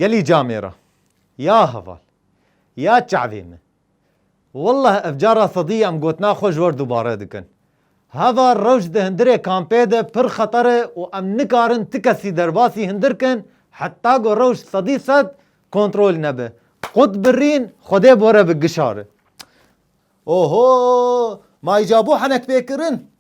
Gelî camê ra. Ya heval. Ya çavê min. Wallah ev cara sedî em gotina xwe ji we re dubare dikin. Heva rewş di hindirê kampê de pir xeter e û em nikarin ti kesî derbasî hindir kin heta ku rewş sedî sed kontrol nebe. Qut birîn xwedê bore bi gişari. Oho! Ma îca bû henekpêkirin.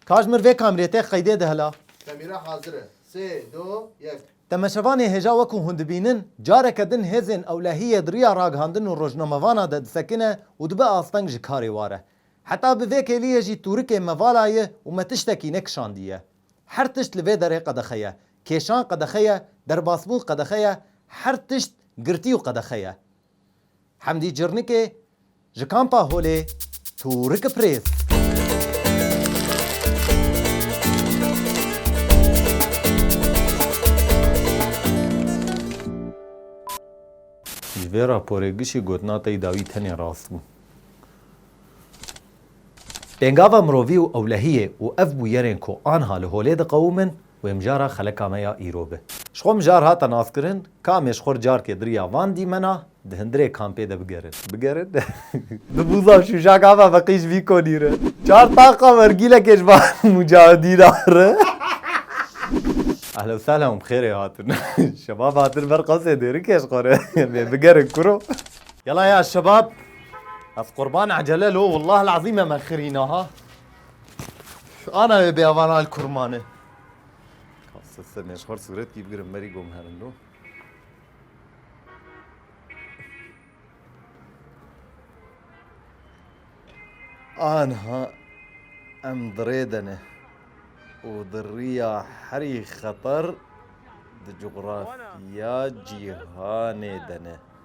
Kajmir vê kamerê tê qeydê de hela. Kamera hazir e. Sê, do, yek. Temaşevanê hêja wekû hûn dibînin, careke din hêzên ewlehiyê di riya ragihandin û rojnamevana de disekine û dibe asteng ji karê ware. Heta bi vê kêliyê jî tûrikê me vala ye û me tiştekî nekişandiye. Her tişt li vê derê qedexe ye. Kêşan qedexe ye, derbasbûn qedexe ye, her tişt girtî û qedexe ye. Hemdî Cirnikê ji Kampa Holê Tûriki Prêz. Ji vê raporê gişî gotina te yî dawî tenê rast bû. Pêngava mirovî û ewlehiyê û ev bûyerên ku anha li holê diqewimin Wê mijara xeleka me ya îro bi. Ji xwe mijar hate naskirin, kamê ji xwe carkê diriya van dîmena, di hindirê kampê de bigerin. Bigerin? Di bûza şûjaka me ve qîj vî konî re, çar taxa wergîlekê ji van mûcahidîna re. Ehlen sehlen û bi xêrê hatin. Şebab hatin ber qasê dêrikê ji xwe re. Em ê bigerin kuro. Yala ya şebab, ez qurban ecele lo, wellahil ezîm em e xirîna ha. Ana wê bê avan al kurmane. Kasa se me xor suret ki bigirim meri gom herindo. Anha em dirê dene û di riya herî xeter di coğrafya cîhanê dene.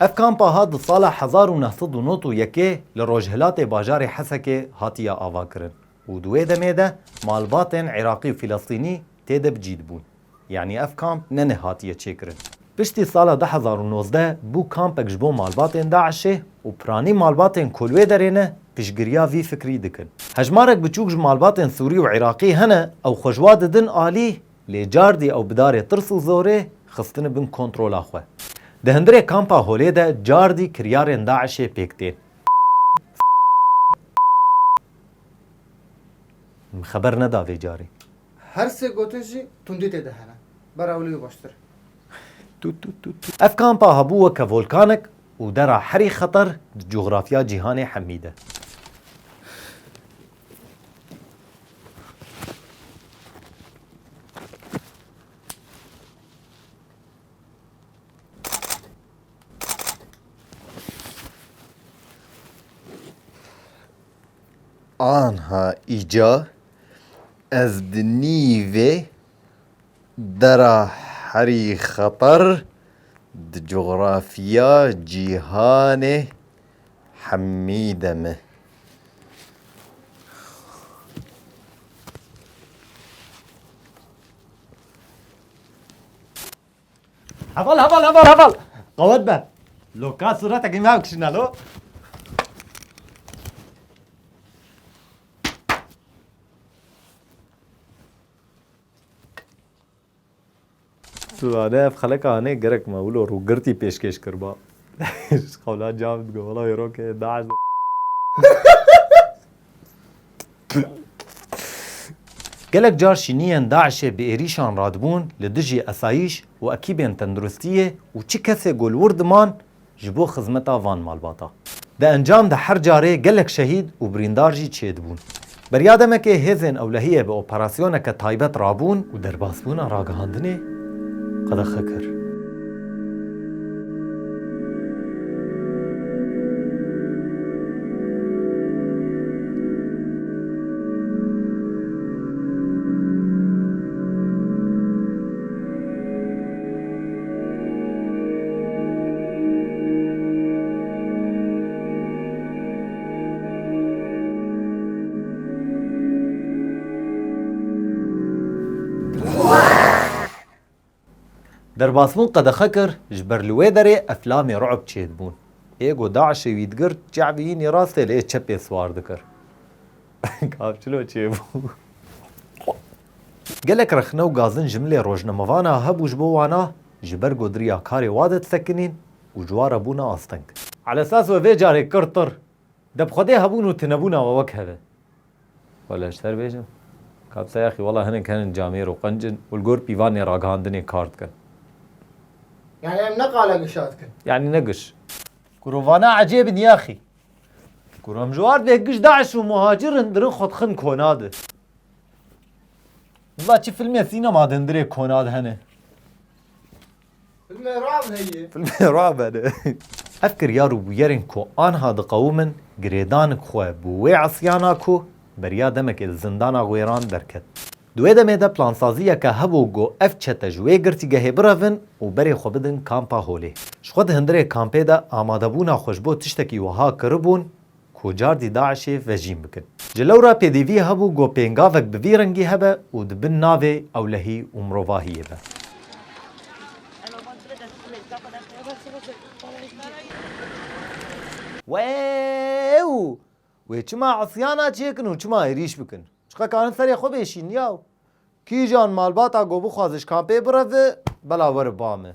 Ev kampa hat di sala hezar û neh sed û nod û yekê li rojhilatê bajarê Hesekê hatiye avakirin û di wê demê de malbatên Iraqî û Filestînî tê de bi cî dibûn. Yanî ev kamp ne neh hatiye çêkirin. Piştî sala du hezar û nozdeh bû kampek ji bo malbatên DAIŞ'ê û piranî malbatên ku li wê derê ne piştgiriya vî fikrî dikin. Hejmarek biçûk ji malbatên Sûrî û Iraqî hene ew xwe ji wa didin alî Lê cardî ew bi darê tirs û zorê xistine bin kontrola xwe. Di hundirê kampa Holê de cardî kiryarên DAIŞ'ê pêk tên. Min xeber neda vê carî. Her sê gotin jî tundî tê de hene. Bera wilo yê baştir. Ev kampa hebû weke volkanek û dera herî xeter di cografya cîhanê hemî de. Anha îca ez di nîvê dera herî xeter di coxrafiya cîhanê Hemîde mi. Heval heval heval heval. Qawet be. Loka suretekî me bikişîne lo. Suzane ev xeleka hanê gerek me wilo rûgirtî pêşkêş kiriba. Ji qewla cam digo wela wê rokê daeş Gelek car şîniyên DAIŞ'ê bi êrîşan radibûn li dijî esayîş û ekîbên tenduristiyê û çi kesê ku li wir diman ji bo xizmeta van malbata. Di encam de her carê gelek şehîd û birîndar jî çêdibûn. Beriya demekê hêzên ewlehiyê bi operasyoneke taybet rabûn û derbasbûna ragihandinê qedexe kir. Derbasbûn qedexe kir, ji ber li wê derê eflamê ru'b çêdibûn. Ê ku DAIŞ'ê wî digirt, ç'ebî hînî rastê li ê çepê siwar dikir. Gavçilo çêbû. Gelek rexne û gazin ji milê rojnamevan a hebû ji bo wan a ji ber godiriya karê wa de disekinîn û ji wa re bûne asteng. Alesas we vê carê kir tir deb xwedê hebûn û tunebûna we wek hev e. Xwe li ejter bêjin. Ka bi se ya xî wela hinek henin camêr û qenc in û li gor pîvanê ragihandinê kar dikin. Yanî em ne qala gişa dikin. Yanî ne giş. Kuro vana ecêb in ya xî. Kuro em ji wardê giş daîş û muhacir in dirin xwe dixin kona di. Valla çi filmê sînema de ndirê Konad hene? Filmê Rab heye. Filmê Rab hene. Ev kiryar û bûyerên ku anha diqewimin girêdanik xwe bo wê esyana ku beriya demekê li zindana wêran derket. Di wê demê de plansaziyeke hebû ku ev çete ji wê girtîgehê birevin û berê xwe bidin Kampa Holê. Ji xwe di hindirê kampê de amadebûna xwe ji bo tiştekî wiha kiribûn, ku cardî DAIŞ'ê vejîn bikin. Ji lewra pêdiviyê hebû got pêngavek bi vî rengî hebe û di bin navê ewlehî û mirovahiyê be. Weew! Wê çima isyana çêkin û çima êrîş bikin? Çiqe karin serê xwe bê şîn yaw? Kîjan malbata got bixwaze ji kampê bire vi, bela were ba min.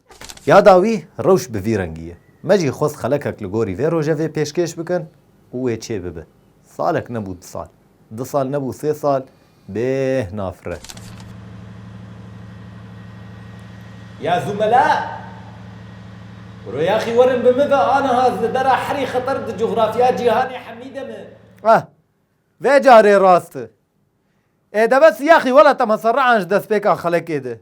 Ya dawî rewş bi vî rengî ye. Me jî xwest xelekek li gorî vê rojevê pêşkêş bikin û wê çê bibe. Salek nebû du sal. Du sal nebû sê sal bêh nafire. Ya zûmela! Ro yaxî werin bi min ve aniha li dera herî xeter di cografya cîhanê hemî de min. Ah! Vê carê rast e. Ê deve siyaxî wela te me serrian ji destpêka xelekê de.